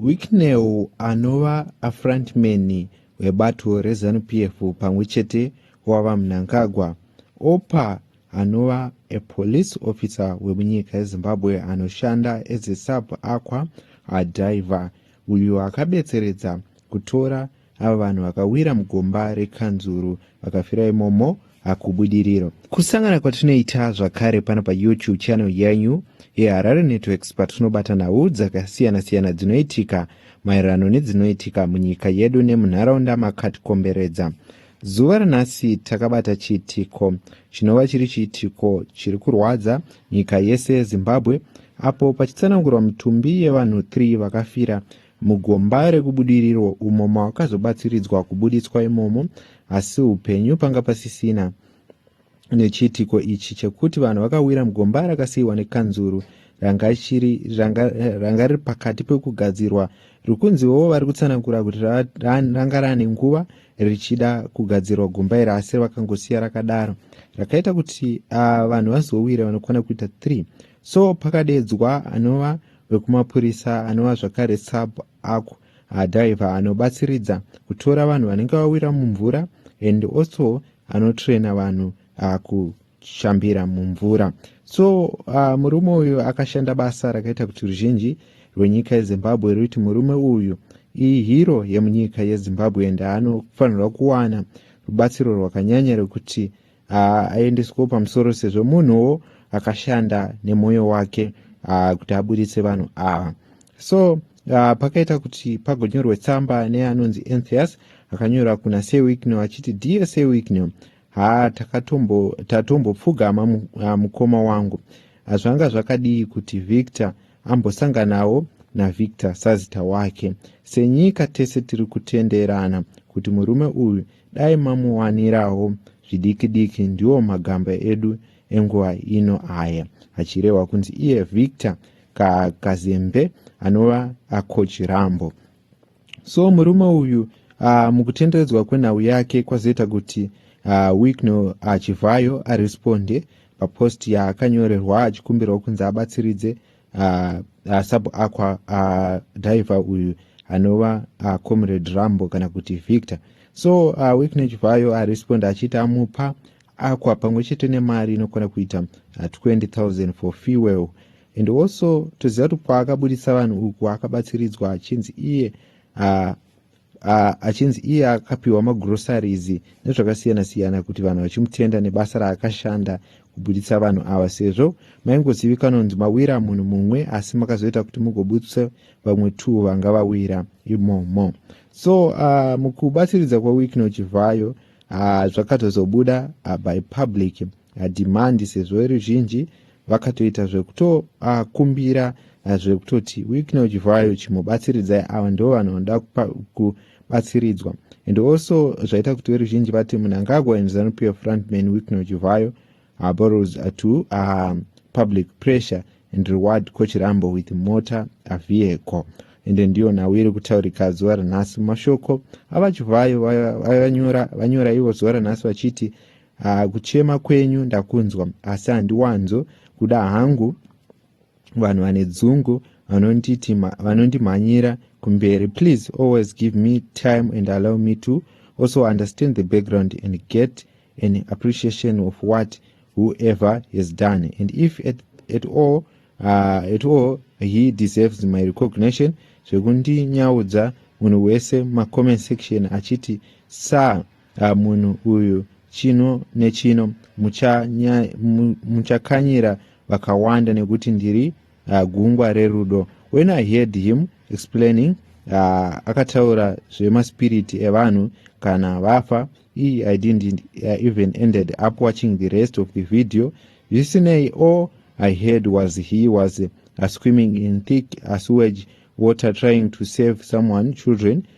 Wicknell anova afrontman webato reZanu PF pamwe chete wava Mnangagwa, Opa anova a police officer wemunyika yeZimbabwe anoshanda as a sub aqua diver uyo akabetseredza kutora ava vanhu vakawira mugomba rekanzuru vakafira imomo hakubudiriro kusangana kwatinoita zvakare pano payoutube channel yenyu yeharare networks patinobata nhau dzakasiyana-siyana dzinoitika maererano nedzinoitika munyika yedu nemunharaunda makatikomberedza zuva ranhasi takabata chiitiko chinova chiri chiitiko chiri kurwadza nyika yese yezimbabwe apo pachitsanangurwa mitumbi yevanhu 3 vakafira Mugomba rekubudiriro umo mawakazobatsiridzwa kubuditswa imomo, asi upenyu panga pasisina nechiitiko ichi chekuti vanhu vakawira mugomba rakasiyiwa nekanzuru ranga chiri ranga, ranga riri pakati pekugadzirwa rikunziwo vari kutsanangura kuti ranga rane nguva richida kugadzirwa gomba iri asi vakangosiya rakadaro rakaita kuti uh, vanhu vazowire vanokwana kuita 3 so pakadeedzwa anova vekumapurisa anova zvakare sub ako adhivha anobatsiridza kutora vanhu vanenge vawira mumvura and also anotraina vanhu akushambira mumvura so uh, murume uyu akashanda basa rakaita kuti ruzhinji rwenyika yezimbabwe ruiti murume uyu ihiro yemunyika yezimbabwe and anofanirwa kuwana rubatsiro rwakanyanya rwekuti haaendeswewo pamusoro sezvo munhuwo akashanda nemwoyo wake uh, kuti aburitse vanhu ava uh. so uh, pakaita kuti pagonyorwe tsamba neanonzi enthias akanyora kuna sewikno achiti dear sewikno ha tatombopfugama ah, mukoma wangu zvanga zvakadii kuti victor ambosanganawo navictor sazita wake senyika tese tiri kutenderana kuti murume uyu dai mamuwanirawo zvidiki diki ndiwo magamba edu enguva ino aya achirehwa kunzi iye victor kakazembe anova acoach rambo so murume uyu uh, mukutenderedzwa kwenhau yake kwazoita kuti uh, ah, wikno achivhayo ah, aresponde papost yaakanyorerwa achikumbirwa kunzi abatsiridze uh, uh, sub aqua uh, diver uyu anova uh, comrade rambo kana kuti victor so uh, wiknech vayo aresponda achiti amupa aqua pamwe chete nemari inokwana kuita uh, 20000 for fuel and also toziva kuti kwaakabudisa vanhu uku akabatsiridzwa achinzi iye uh, achinzi iye akapiwa magroceries nezvakasiyana siyana kuti vanhu vachimutenda nebasa raakashanda kubuditsa vanhu ava sezvo maingozivikanwa kunzi mawira munhu mumwe asi makazoita kuti mugobudisa vamwe two vanga vawira imomo so uh, mukubatsiridza kwewickno chivhayo uh, zvakatozobuda uh, by public uh, demand sezvo ruzhinji vakatoita zvekutokumbira uh, eh, zvekutoti wiknow chivhayo chimubatsiridzai ava ndo vanhu vanoda kubatsiridzwa and also zvaita kuti veruzhinji vati munangagwa and zanup f frontman wiknow chivhayo uh, borrows uh, to uh, public pressure and reward kochirambo with motor uh, vehicle ende ndiyo nhau iri kutaurika zuva ranhasi mashoko avachivhayo vanyora ivo zuva ranhasi vachiti Haa kuchema kwenyu ndakunzwa asi handiwanzo kuda hangu vanhu vane dzungu vanondimhanyira kumberi please always give me time and allow me to also understand the background and get an appreciation of what whoever has done and if at, at all uh, at all he deserves my recognition zvekundinyaudza munhu wese mumacoment section achiti sa Ah, munhu uyu chino nechino muchakanyira mucha vakawanda nekuti ndiri uh, gungwa rerudo when i heard him explaining uh, akataura zvemaspiriti evanhu kana vafa i didn't uh, even ended up watching the rest of the video zvisinei all i heard was he was uh, swimming in thick uh, sewage water trying to save someone children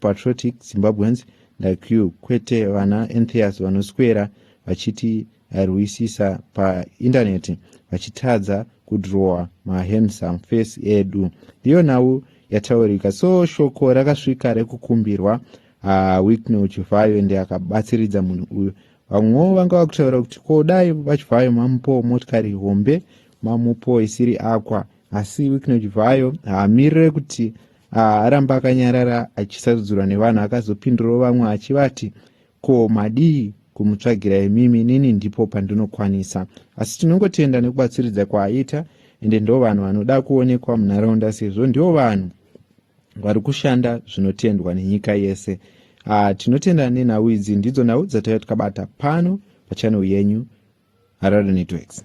patriotic zimbabweans like you kwete vana entheus vanoswera vachiti rwisisa paindaneti vachitadza kudrowa mahandsome face edu ndiyo nhau yataurika so shoko rakasvika rekukumbirwa ah, wicknel chivhayo ndi akabatsiridza munhu uyu vamwewo vanga vakutaura kuti ko dai vachivhayo mamupo motikari hombe mamupo isiri akwa asi wicknel chivhayo haamirire kuti Ah, aramba akanyarara achisarudzirwa nevanhu akazopindurawo vamwe achivati ko madii kumutsvagira imimi nini ndipo pandinokwanisa asi tinongotenda nekubatsiridza kwaaita ende ndo vanhu vanoda kuonekwa munharaunda sezvo ndiwo vanhu vari kushanda zvinotendwa nenyika yese ah, tinotenda nenhau idzi ndidzo nhau dzataiva tikabata pano pachanel yenyu harare networks